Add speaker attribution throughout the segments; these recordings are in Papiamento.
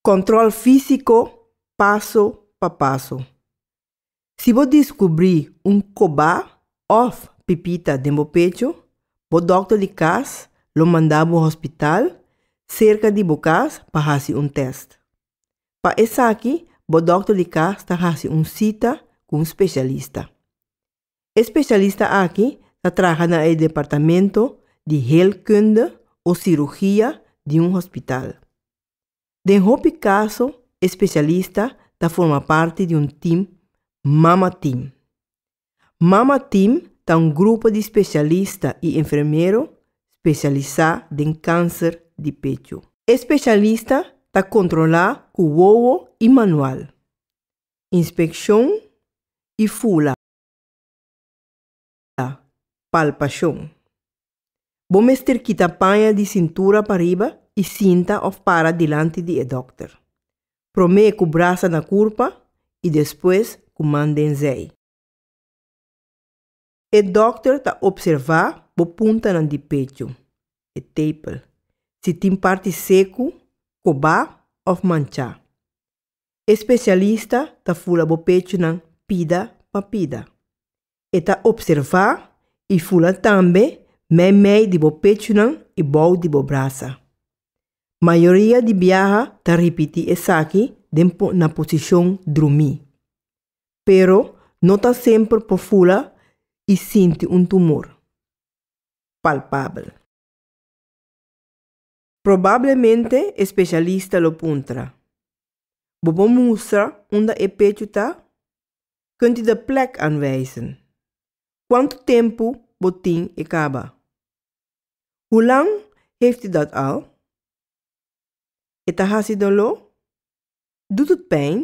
Speaker 1: Control físico paso pa paso. Si bo descubri un cobá of pipita den bo pecho, bo doctor di cas lo manda bo hospital cerca di bo cas pa haci un test. Pa esaki bo doctor di cas ta haci un cita cu un specialista. E spesialista aki ta traha na e departamento di heelkunde o sirugia di un hospital. Den hopi kaso e spesialista ta forma parti di un tim Mama Team. Mama Team ta un grupo di spesialista i enfermero spesialisá den kanser di pechu. E spesialista ta kontrolá ku wowo i manual. Inspekshon i fula palpashon. Bo mester kita paña di sintura pa riba i sinta òf para dilanti di e dòkter, promé ku brasa na kurpa i despues ku man den zèi. E dòkter ta opservá bo puntanan di pechu, e tepel, si tin parti seku, kobá òf manchá. E spesialista ta fula bo pechunan pida pa pida. E ta opservá i fula tambe meimei di bo pechunan i bou di bo brasa. Mayoria di biaha ta ripití esaki den na posishon drumí. pero no ta semper por fula i sinti un tumor palpabel. Probablemente e spesialista lo puntra, Bo por mustra unda e pechu ta? Kunt di de plek aanwijzen? Kuantu tempu bo tin e kaba? Hulang heeft u dat al? E ta hasi dolo? Dut het pijn?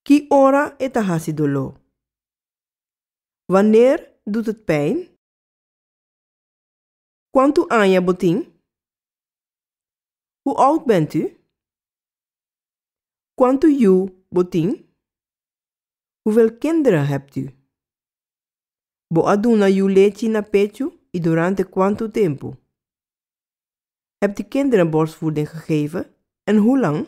Speaker 1: Ki ora e ta hasi doló? Waneer doet het pijn? Kuantu aña bo tin? Hoe oud bent u? Kuantu yu bo tin? Hoeveel kinderen hebt u? Bo a duna yu lechi na pechu i durante kuantu tempu? Heb di kinderen borstvoeding gegeven en hoe lang?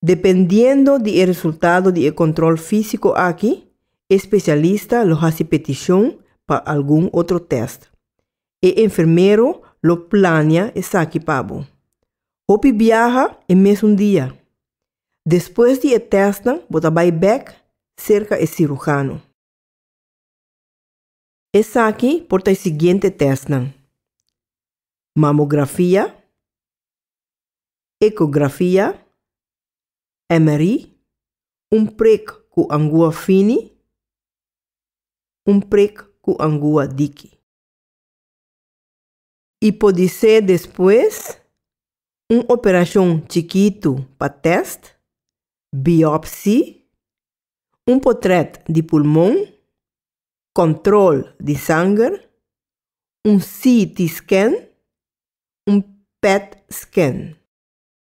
Speaker 1: Dependiendo di e resultado di e control físico aki, e specialista lo haci peticion pa algun otro test. E enfermero lo plania esaki pa bo. Hopi biaha e mesun dia. Despues di e testnan bo ta bai bek cerca e cirujano. Esaki por ta e siguiente testnan, mamografia, ecografia, MRI, un prik ku angua fini, un prik ku angua diki. I podisé despues un operashon chikitu pa tèst, biòpsi, un potrèt di pulmon, kòntròl di sanger, un CT-scan, un PET-scan.